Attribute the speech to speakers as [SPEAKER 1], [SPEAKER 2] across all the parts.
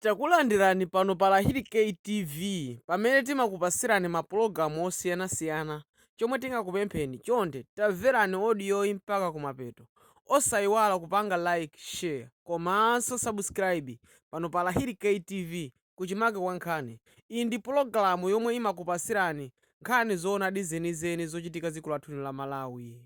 [SPEAKER 1] Takulandirani pano pa Lahiri K TV pamene timakupasirani ma pulogalamu osiyana siyana chomwe tingakupempheni chonde tamverani odiyoyi mpaka kumapeto osayiwala kupanga like share komanso subscribe pano pa Lahiri K TV kuchimake kwa nkhani iyi ndi pulogalamu yomwe imakupasirani nkhani zoonadi zenizeni zochitika dziko lathuli la Malawi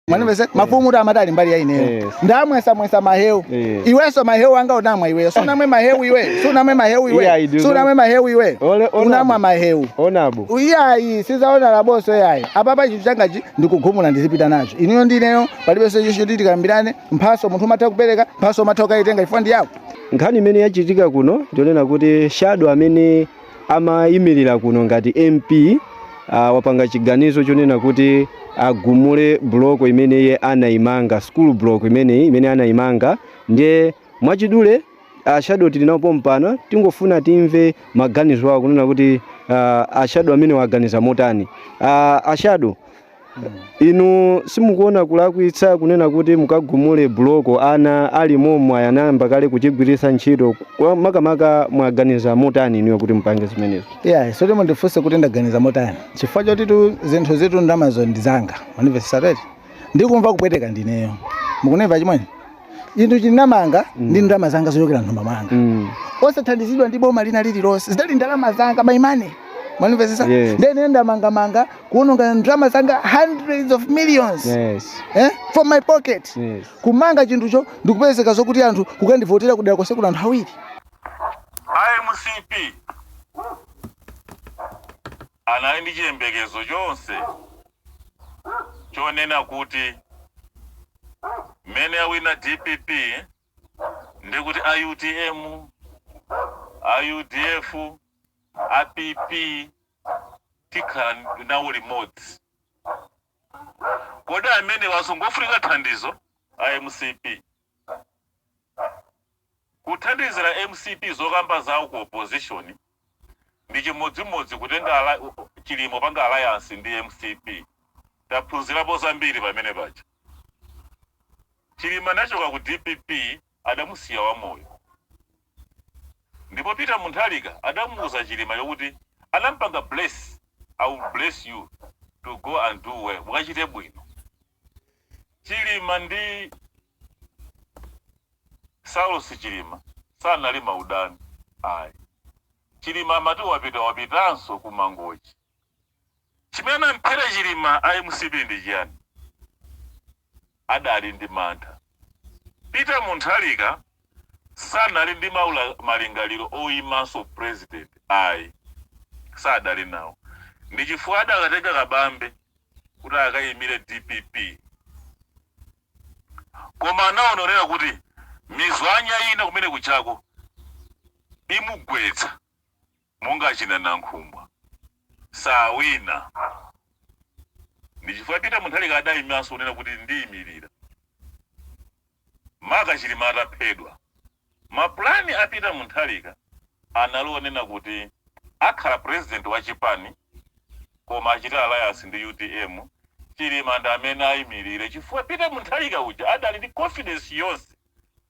[SPEAKER 2] mwanimvese mafumu amati ali mbali ya ineyo Yes. ndamwesamwesa mahewu Yes. iwenso mahewu anga unamwa iwe sunamwe mahewu iwe sunamwe mahewu Yeah, I iwe do sunamwe mahewu iwe Ole- ona- unamwa mahewu Honorable. iyayi
[SPEAKER 3] si za
[SPEAKER 2] honorable-nso iyayi apapa chinthu changachi ndikugumula ndizipita nacho inuyo ndineyo palibenso choti tikambirane mphaso munthu umatha kupereka mphaso umatha kukayitenga chifukwa ndi yako nkhani imene yachitika
[SPEAKER 3] kuno ndionena kuti shadow amene amayimirira kuno ngati mp uh, wapanga chiganizo chonena kuti agumule buloko imene iye anayimanga school block imeneyi imene anayimanga ndiye mwachidule a shadow tili nawo pompano tingofuna timve maganizo awo kunena kuti uh, a shadow amene aganiza motani uh, a shadow inu simukuona kulakwitsa kunena kuti mukagumule buloko ana ali momwe anayamba kale kuchigwiritsa ntchito Kwa- makamaka mwaganiza motani inuyo kuti mupange zimenezo ayi sizoti
[SPEAKER 2] mundifunse kuti ndaganiza motani chifukwa chotitu zinthuzitu ndalamazo ndizanga mwanimvesa tate ndikumva kupweteka ndineyo mukunimva chimwene chinthu ndinamanga ndi ndalama zanga zochokera nthumba mwanga Mm. osathandizidwa ndi boma lina lililonse zidali ndalama zanga my money mwanimvesesa Yes. ndiye ine ndamangamanga kuononga ndalama zanga hundreds of millions Yes. eh? from my pocket Yes. kumanga chinthucho ndikupezeka zokuti anthu kukandivotera kudera konse kuno anthu awiri IMCP
[SPEAKER 4] Anali ndi chiyembekezo chonse chonena kuti mmene awina dpp ndekuti a utm, a udf, a PP tikhala nawo limodzi. Kodi amenewanso ngofunika thandizo? A mcp Kuthandizira mcp zokamba zawo ku opposition ndi chimodzimodzi kutenga Chilima kupanga alliance ndi mcp taphunzirapo zambiri pamene paja chilima anachoka ku dpp adamusiya wamoyo ndipo Peter Mutharika adamuuza Chilimayo kuti anampanga bless i will bless you to go and do well mukachite bwino Chilima ndi Saulos Chilima sanali maudani ayi. Chilima amati wapita wapitanso ku Mangochi. Chimene anamphera Chilima a mcp ndi chiyani? Adali ndi mantha. Peter munthalika sanali ndi maula malingaliro oimanso president ayi sadali nawo ndichifukwa adakatenga kabambe kuti akaimire dpp koma anaonera kuti mizwanya ina kumene kujako imugwetsa. monga achina Nankhumwa sawina ndi chifukwa Peter Munthalika adaimanso kunena kuti ndiimilira maka Chilima ataphedwa. Ma plan a Peter Munthalika anali onena kuti akhala president wa chipani koma achite alliance ndi utm, Chilima ndi amene aimilire chifukwa Peter Munthalika uja adali ndi confidence yonse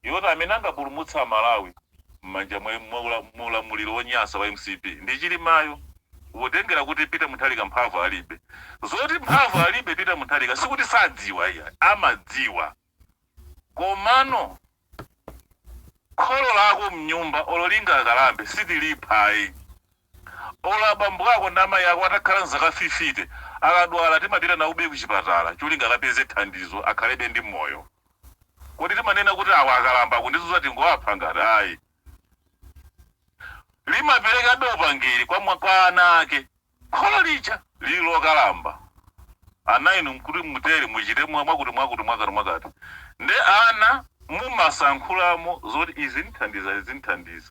[SPEAKER 4] yoti amene angapulumutse a Malawi mmanja mwa mwa ulamuliro wonyasa wa mcp ndi Chilimayo potengera kuti Peter Munthalika mphamvu alibe. Zoti mphamvu alibe Peter Munthalika sikuti sadziwa iyayi amadziwa komano kholo lako mnyumba olo lingakalambe sitilipha ayi. Olo abambo ako ndi amayi ako atakhala nzaka 50 akadwala timapita nawobe kuchipatala cholinga akapeze thandizo akhalebe ndi moyo. Kodi timanena kuti awa akalamba akundizuza tingowapha ngati? Ayi. Limaperekabe upangiri kwa ana ake kholo lija lili lokalamba. Ana inu mkuti mutere muchite mwa mwakuti mwakuti mwakati mwakati nde ana mumasankhulamo zoti izi zinthandiza izi zinthandiza.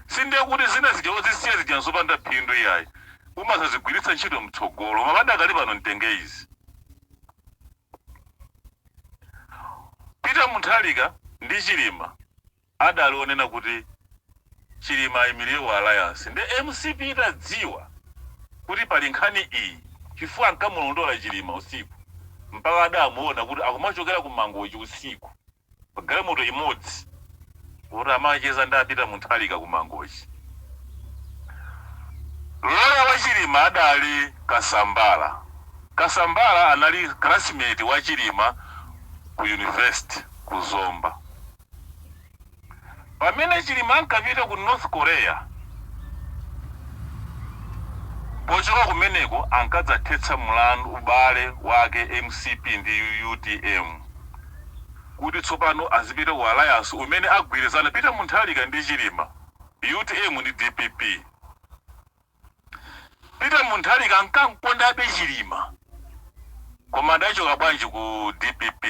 [SPEAKER 4] sindiye kuti zina zija ukuzisiya zija nzopanda phindu iyayi umazazigwiritsa ntchito mtsogolo mabada akali pano mtenge izi peter munthalika ndi chilima adali onena kuti chilima ayimirire wa alliance nde mcp itadziwa kuti pali nkhani iyi chifukwa ankamulondola chilima usiku mpaka adamuona kuti akumachokera ku mangochi usiku pa galimoto imodzi poti amacheza ndi a Peter Muntharika ku Mangochi. Loya wa Chilima adali Kasambala. Kasambala anali classmate wa Chilima ku university ku Zomba. Pamene Chilima ankapita ku North Korea, pochoka kumeneko ankadzathetsa mlandu, ubale, wake mcp ndi utm kuti tsopano azipita ku alliance umene agwirizana Peter Munthalika ndi Chilima, utm ndi dpp. Peter Munthalika ankamkondabe Chilima koma adachoka bwanji ku dpp?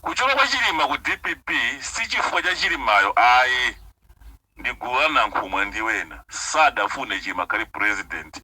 [SPEAKER 4] Kuchoka kwa chilima ku dpp sichifukwa cha chilimayo ayi ndi gulu la nankhumwa ndi wena sadafune chilima akhale president